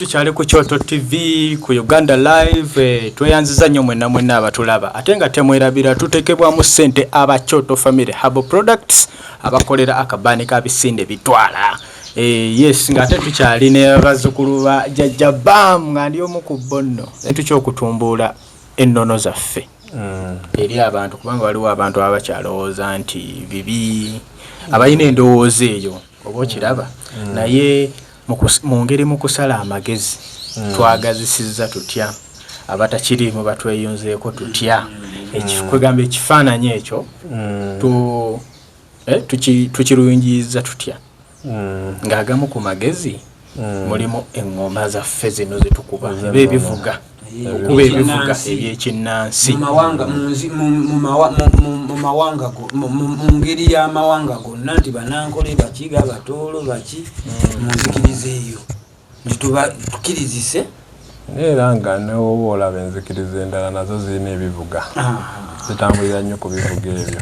tukyali ku kyoto tv ku uganda live eh, tweyanziza nnyo mwena mwena abatulaba ate nga temwerabira tutekebwamu sente aba kyoto family habo products abakolera akabaani ka bisinde bitwala eh, yes nga ate tukyali ne bazukulu ba jajja bam nga ndi omu ku bo nno tukyokutumbuula ennono zaffe mm. eri abantu kubanga waliwo abantu abakyalowooza nti bibi abalina endowooza eyo oba okiraba mm. naye Mu ngeri mu kusala amagezi hmm. twagazisizza tutya abatakiriimu batweyunzeeko tutya hmm. kwegamba ekifaananyi ekyo hmm. eh, tukirungiyiza tutya ng'agamu ku magezi mulimu eŋŋoma zaffe zino zetukuba eba ebivuga okuba ebivuga ebyekinnansi mu ngeri y'amawanga gonna nti banankole baki ga batoolo baki mu nzikiriza eyo nti tukirizise era nga newoba olaba enzikiriza endala nazo zirina ebivuga zitambulira nnyo ku bivuga ebyo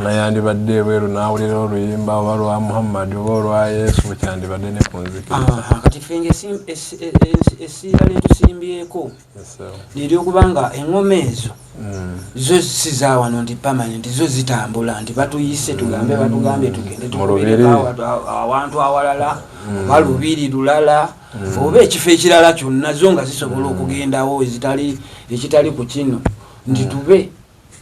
Nga yandibadde ebweru n'awulira oluyimba oba lwa Muhammad oba olwa Yesu bwe kyandibadde ne ku nzikiriza. Kati ffe nga essira lye tusimbyeko lye ly'okuba nga eŋŋoma ezo hmm. zo si za wano nti permanent zo zitambula nti batuyise tugambe hmm. batugambye tugende tukubereawantu awalala hmm. oba lubiri lulala oba ekifo ekirala kyonna zo nga zisobola okugendawo ekitali ku kino nti tube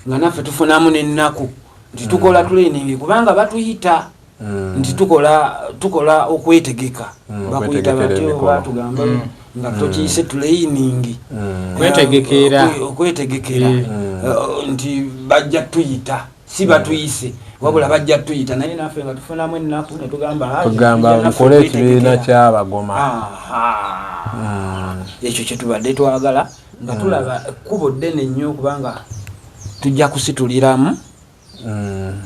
nga naffe tufunamu nennaku nti tukola mm. training kubanga batuyita mm. nti tukola tukola okwetegeka mm, bakuyita batyo batugamba nga tokiyise training okwetegekera okwetegekera eh, nti bajja tuyita si batuyise wabula bajja tuyita naye naffe nga tufunamu ennaku netugambagamba mukole ekibiina kyabagoma ekyo kyetubadde twagala nga tulaba ekkubo ddene nnyo kubanga tujja kusituliramu mm.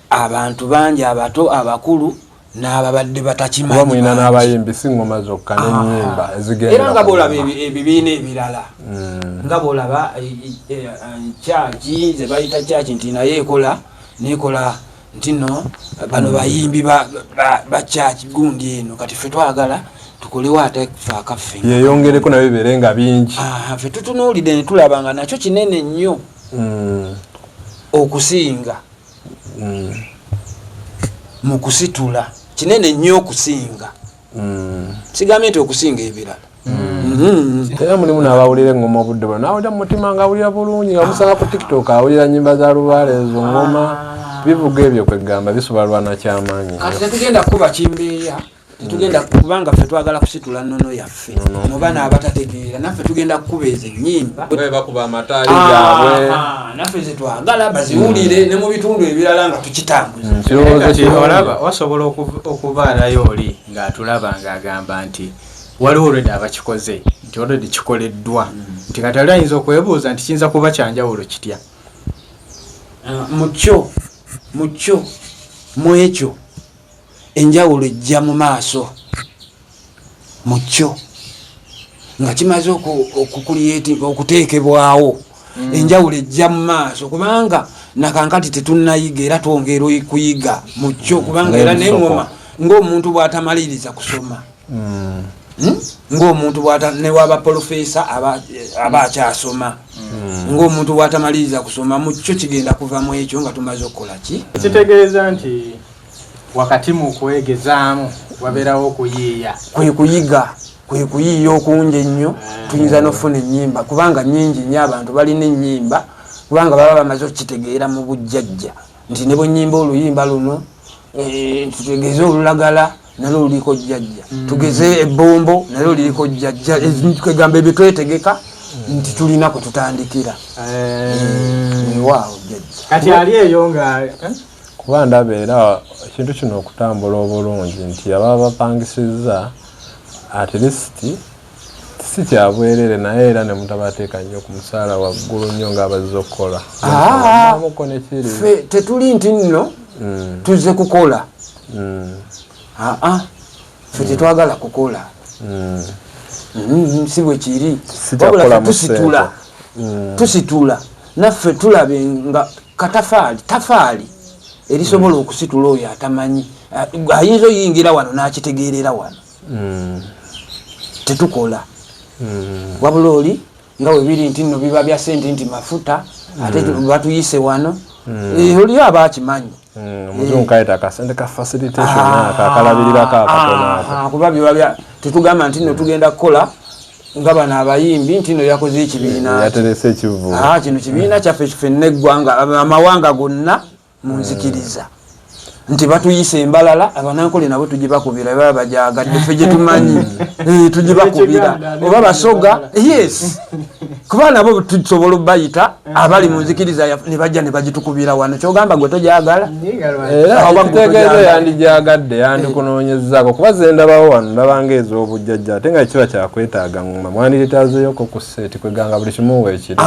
abantu bangi abato abakulu n'ababadde batakimanyiina n'abayimbi si ngoma zokka nenyimba ah. ezigendera nga bwolaba ebibiina ebirala mm. nga bwolaba eh, eh, eh, kyaki zebayita kyaki nti naye ekola nekola ntino bano bayimbi ba church gundi eno kati fe twagala tukolewo ate fe akaffe yeyongereko nayo bibeere nga bingi fe tutunuulidde netulaba nga nakyo kinene nnyo mm. okusinga mm. mu kusitula kinene nnyo okusinga mm. sigambye nti okusinga ebirala Mm-hmm. era mulimu nabawulira engoma obudde bwa nawulira mumutima nga awulira bulungi nga musanga ku tiktok awulira nyimba za lubaale ezo ngoma ah. bivuga ebyo kwegamba bisobola lwana kyamaanyi kati tetugenda kukuba kimbeeya tetugenda kubanga ffe twagala kusitula nnono yaffe muba naabatategeera naffe tugenda kukuba ezo ennyimba bakuba amataali ah, gaabwe ah, naffe zetwagala baziwulire mm. ne mu bitundu ebirala nga tukitambuzaolaba mm, wasobola okubaalayo oli ng'atulaba ng'agamba nti waliwo olwedda abakikoze nti olwedda kikoleddwa nti kati ali ayinza okwebuuza nti kiyinza kuba kyanjawulo kitya ah, mukyo mukyo mu ekyo enjawulo ejja mu maaso mukyo nga kimaze okukulyetinga okuteekebwawo mm. enjawulo ejja mu maaso kubanga nakankati tetunayiga era twongera kuyiga mukyo mm. kubanga era nengoma ngaomuntu bwatamaliriza kusoma hmm. Hmm? ng'omuntu newaba polofesa aba hmm. akyasoma ng'omuntu bwatamaliriza kusoma mu kyo kigenda kuva mu ekyo nga tumaze okukola ki kitegeeza nti wakati mu kwegezaamu wabeerawo okuyiiya kwe kuyiga kwe kuyiiya okungi ennyo eh. tuyinza n'okufuna ennyimba kubanga nyingi nnyo abantu balina ennyimba kubanga baba bamaze okukitegeera mu bujjajja nti ne bwenyimba oluyimba luno eh, tutegeeze olulagala nalwo luliko jjajja mm. tugeze ebbombo nalwo liriko jjajja kegamba ebyo twetegeka mm. nti tulina kwe tutandikira eh. waawo jjajja kati ali eyo nga eh? kuba ndaba era ekintu kino okutambula obulungi nti ababa bapangisizza at least si kyabwerere naye era ne mutabateeka nnyo ku musaala waggulu nnyo ng'abazze okukola ah, fe tetuli nti nno mm. tuzze kukola mm. aa ah, ah, fe mm. tetwagala kukola si bwe kiri wabula tusitula tusitula naffe tulabe nga katafaali tafaali erisobola okusitula oyo atamanyi ayinza oyingira wano n'akitegeerera wano mm. tetukola mm. wabula oli nga webiri nti no biba bya sente nti mafuta mm. ate batuyise wano mm. e, oliyo aba akimanyi mm, kuba biba tetugamba nti no tugenda kukola nga bano abayimbi nti no yakoze ekibiina kino kibiina kyaffe kife neggwanga amawanga gonna munzikiriza nti batuyisa embalala abanankole nabo tugibakubira baba bajagadde fe gyetumanyi eh, tugibakubira oba basoga yes kuba nabo tusobola obayita abali munzikiriza nebajja nebagitukubira wano kyogamba gwe tojagala ekitegeeza eh, yandijagadde yandikunonyezako kuba zendabawo wano ndabanga ezobujjajja ate nga kiba kyakwetaaga ngoma mwandiretazeyoko ku seti kweganga buli kimu wekiri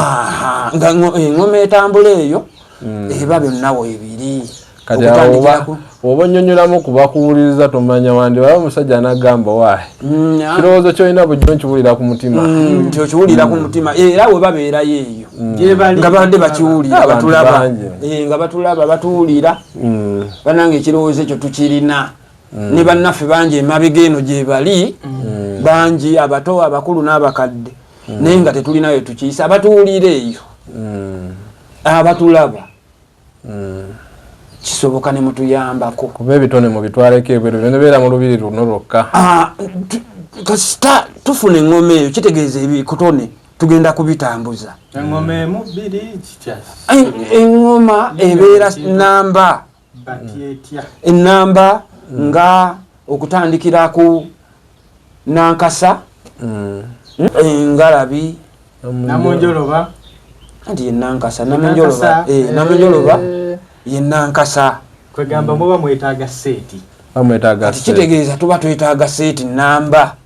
nga engoma eh, etambula eyo mm. eba byonna webiri kati oba onyonyolamu kubakuwuliriza tomanya wandi waba omusajja anagamba wae mm, kirowoozo kyolina bujjo nkiwulira ku mutima mm, nti okiwulira ku mutima eh, era we babeerayo eyo nga bande bakiwulira batulaba eh, nga batulaba batuwulira banange ekirowoozo ekyo tukirina ne bannaffe bangi emabega eno gyebali bangi abato abakulu n'abakadde naye nga tetulinayo tukiyisa abatuwulira eyo abatulaba hmm. kisoboka nemutuyambako kuba ebitone mubitwaleko ebweru nebeera mu lubiri luno lwokka ah, kasita tufuna engoma eyo kitegeeza ebikutone tugenda kubitambuza engoma ebeera namba ennamba mm. nga okutandikira ku nankasa mm. engalabi namunjoloba anti yenankasa namunjoloba eh, namunjoloba eh. yenankasa kwegamba muba mwetaaga seeti bamwetaaga kitegeeza tuba twetaaga seeti namba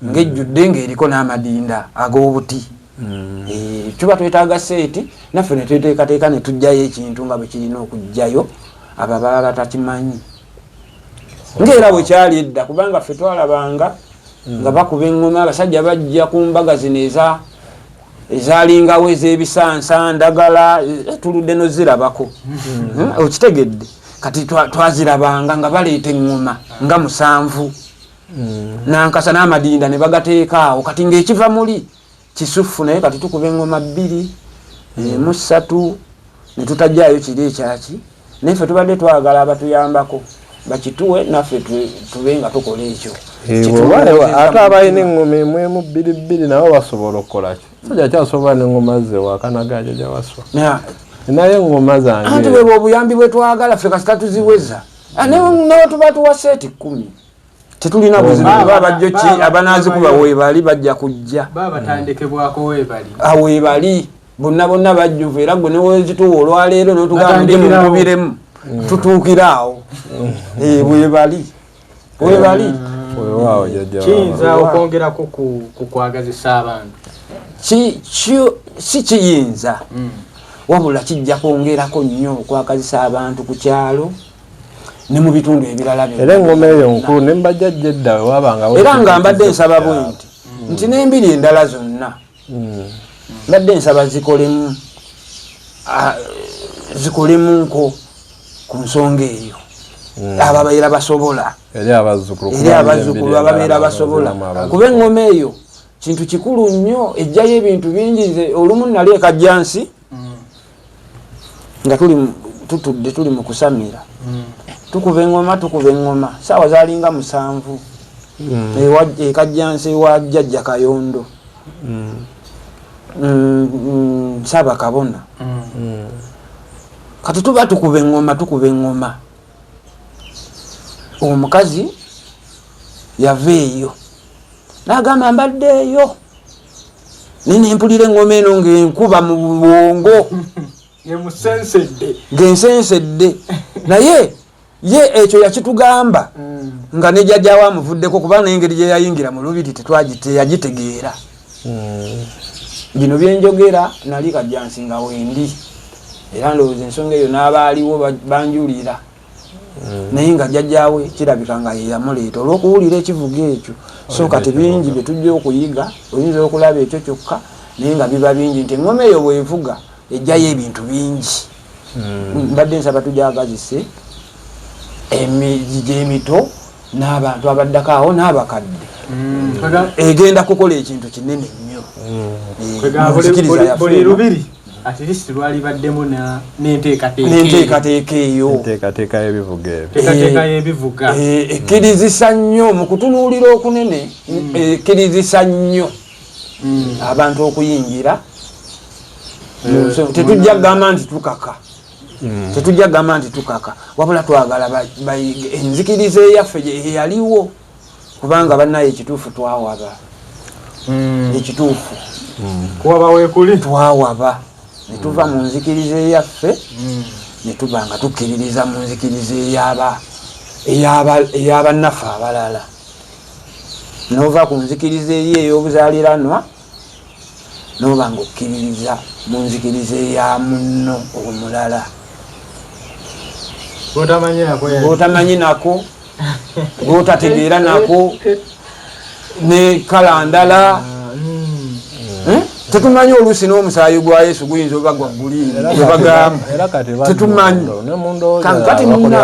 ngejjudde ng'eriko n'amadinda ag'obuti hmm. eh, tuba twetaaga seeti naffe ne tweteekateeka ne tujjayo ekintu nga bwe kirina okujjayo abo baba batakimanyi ng'era bwe kyali edda kubanga ffe twalabanga hmm. nga bakuba eŋŋoma abasajja bajja ku mbaga zino eza ezalingawo ez'ebisansa ndagala eh, tuludde nozirabako hmm. eh, okitegedde kati twazirabanga nga baleeta eŋŋoma nga musanvu mm. nankasa n'amadinda ne bagateekaawo kati ng'ekiva muli kisuffu naye kati tukuba engoma bbiri mm. emu ssatu ne tutajjaayo kiri ekyaki naye ffe tubadde twagala abatuyambako bakituwe naffe tube nga tukola ekyo ate abalina eŋŋoma emu emu bbiri bbiri nabo basobola okukolaki soja kyasobola neŋŋoma ze wakanagaja jawaswa naye eŋŋoma zange anti bwebwe obuyambi bwetwagala ffe kasita tuziweza ah, nawe tuba tuwa seeti kkumi tetulina buzibu oba bajjo ki abanazikuba webali bajja kujja awebali ah, bonna bonna bajjuvu era gwe newezituwa olwaleero notugamba ndi mumubiremu mm. tutuukire awo mm. eh, webali webali mm. kiyinza okwongerako kukwagazisa abantu si kiyinza wabula kijja kwongerako nnyo okwagazisa abantu ku kyalo ne mu bitundu ebirala era engoma eyo nkulu ne mbajja jedda wabanga era nga mbadde nsaba bwe nti mm. nti n'embiri endala zonna mm. mbadde nsaba zikolemu zikolemu nko ku nsonga eyo mm. abo ababeera basobola eri abazzukulu ababeera basobola kuba engoma eyo kintu kikulu nnyo ejjayo ebintu bingi nze olumu nali ekajjansi nga tuli tutudde tuli mu kusamira mm. tukuba eŋoma tukuba eŋoma saawa zalinga musanvu mm. ekajjansi wa jjajja kayondo mm. nsaba kabona kati tuba tukuba eŋoma tukuba eŋoma omukazi yava eyo nagamba mbadde eyo naye nempulira eŋoma eno ngaenkuba mu bwongo ngensensedde naye ye ekyo yakitugamba mm. nga nejajawo amuvuddeko kuba nengeri gyeyayingira mu lubiri tetwagiteyagitegeera mm. bino byenjogera nali kajjansinga wendi era ndowooza ensonga eyo n'abaaliwo banjulira naye nga jajjaawe kirabika nga yeyamuleeta olwokuwulira ekivuga ekyo so kati bingi byetujja okuyiga oyinza okulaba ekyo kyokka naye nga biba bingi nti engoma eyo bwevuga ejjayo ebintu bingi hmm. mbadde nsaba tujagazise emijija emito n'abantu abaddako awo n'abakadde hmm. egenda kukola ekintu kinene nnyo hmm. eh, buli lubiri at least lwalibaddemu nenteekateeka eyo enteekateeka y'ebivuga ebyoenteekateeka eh, y'ebivuga eh, ekkirizisa nnyo mu kutunuulira okunene mm. eh, ekkirizisa nnyo mm. abantu okuyingira tetujja kugamba nti tukaka mm. tetujja kugamba nti tukaka wabula twagala enzikiriza eyaffe eyaliwo kubanga banaye ekituufu twawaba mm. ekituufu mm. kuwaba wekuli twawaba netuva mm. mu nzikiriza eyaffe mm. netuba nga tukkiririza mu nzikiriza eyaba eyabannaffe abalala nova ku nzikiriza eri ey'obuzaliranwa n'oba ng'okkiririza mu nzikiriza eya munno omulala gwotamanyi nako gwotategeera nako ne kala ndala tetumanyi oluusi n'omusaayi gwa yesu guyinza oba gwa guliini ebagamba tetumanyi kati